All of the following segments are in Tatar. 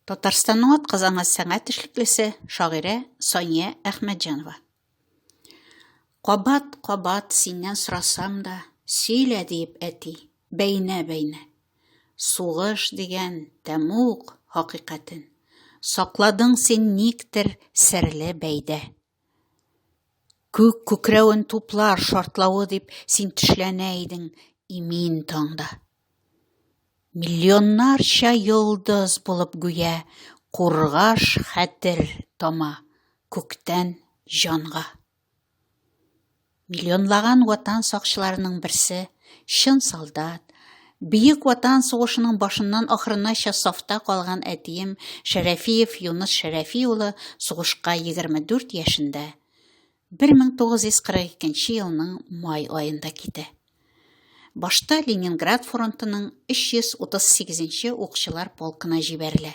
Татарстанның атказанган сәнгать эшлеклесе, шагыйрә Сания Әхмәтҗанова. Кабат, кабат синнән сорасам да, сөйлә диеп әти, бәйнә, бәйнә. Сугыш дигән тәмук хакыйкатен. Сакладың син никтер серле бәйдә. Күк күкрәвен туплар шартлавы дип син тешләнә идең имин таңда. Миллионнарча йолдыз булып гүя кургаш хәтер тама күктән җанга. Миллионлаган ватан сакчыларының берсе, чын солдат, Бөек Ватан сугышының башыннан ахырынача сафта калган әтием Шәрәфиев Юныс Шәрәфи улы сугышка 24 яшендә 1942 елның май аенда китә. Башта Ленинград фронтының 338 нче укчылар полкына җибәрелә.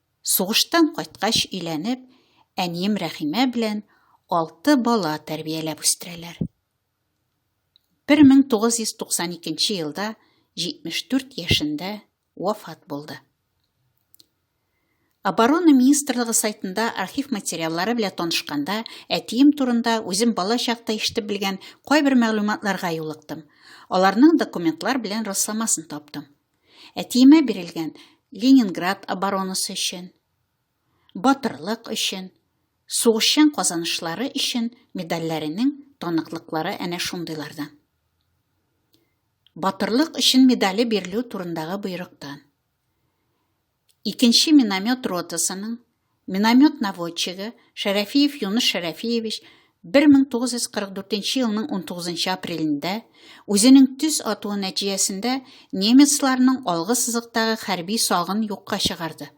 Сугыштан кайткач өйләнеп, әнием Рәхимә белән алты бала тәрбияләп үстерәләр. 1992 елда 74 яшендә вафат булды. Оборона министрлыгы сайтында архив материаллары белән танышканда, әтием турында үзем бала чакта ишетеп белгән кайбер мәгълүматларга юлыктым. Аларның документлар белән расламасын таптым. Әтиемә бирелгән Ленинград оборонасы өчен, батырлык өчен, сугышчан казанышлары өчен медальләренең таныклыклары әнә шундыйлардан. Батырлык өчен медале бирелү турындагы боерыктан. Икенче миномет ротасының миномет наводчигы Шәрәфиев Юныс Шәрәфиевич 1944 елның 19 апрелендә үзенең төс атуы нәтиҗәсендә немецларның алгы сызыктагы хәрби сагын юкка чыгарды.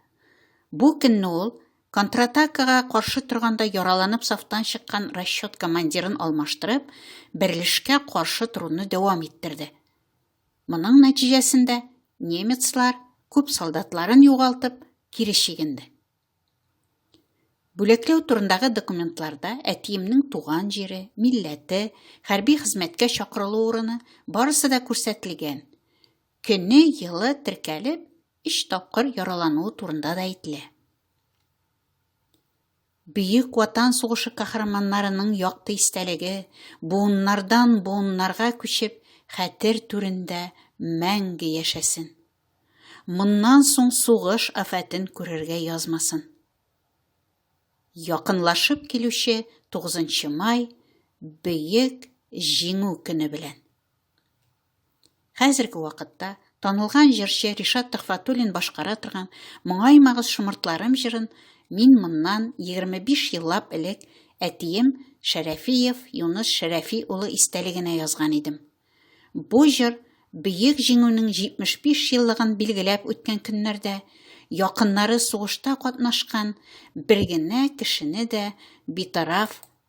Бу көнне ул контратакага каршы торганда яраланып сафтан чыккан расчет командирын алмаштырып, берлешкә каршы торуны дәвам иттерде. Моның нәтиҗәсендә немецлар күп солдатларын югалтып, кире чигенде. Бүләкләү турындагы документларда әтиемнең туган җире, милләте, хәрби хезмәткә чакырылу урыны барысы да күрсәтелгән. Көне, елы теркәлеп, өч тапкыр яралануы турында да әйтелә. Бөек Ватан сугышы каһарманнарының якты истәлеге, буыннардан буыннарга күчеп, хәтер түрендә мәңге яшәсен. Моннан соң сугыш афәтен күрергә язмасын. Якынлашып килүче 9 май, Бөек Җиңү көне белән! Хәзерге вакытта танылган җырчы Ришат Төхфәтуллин башкара торган Моңаймагыз шомыртларым җырын мин моннан 25 еллап элек әтием Шәрәфиев Юныс Шәрәфи улы истәлегенә язган идем. Бу җыр Бөек Җиңүнең 75 еллыгын билгеләп үткән көннәрдә якыннары сугышта катнашкан бер генә кешене дә битараф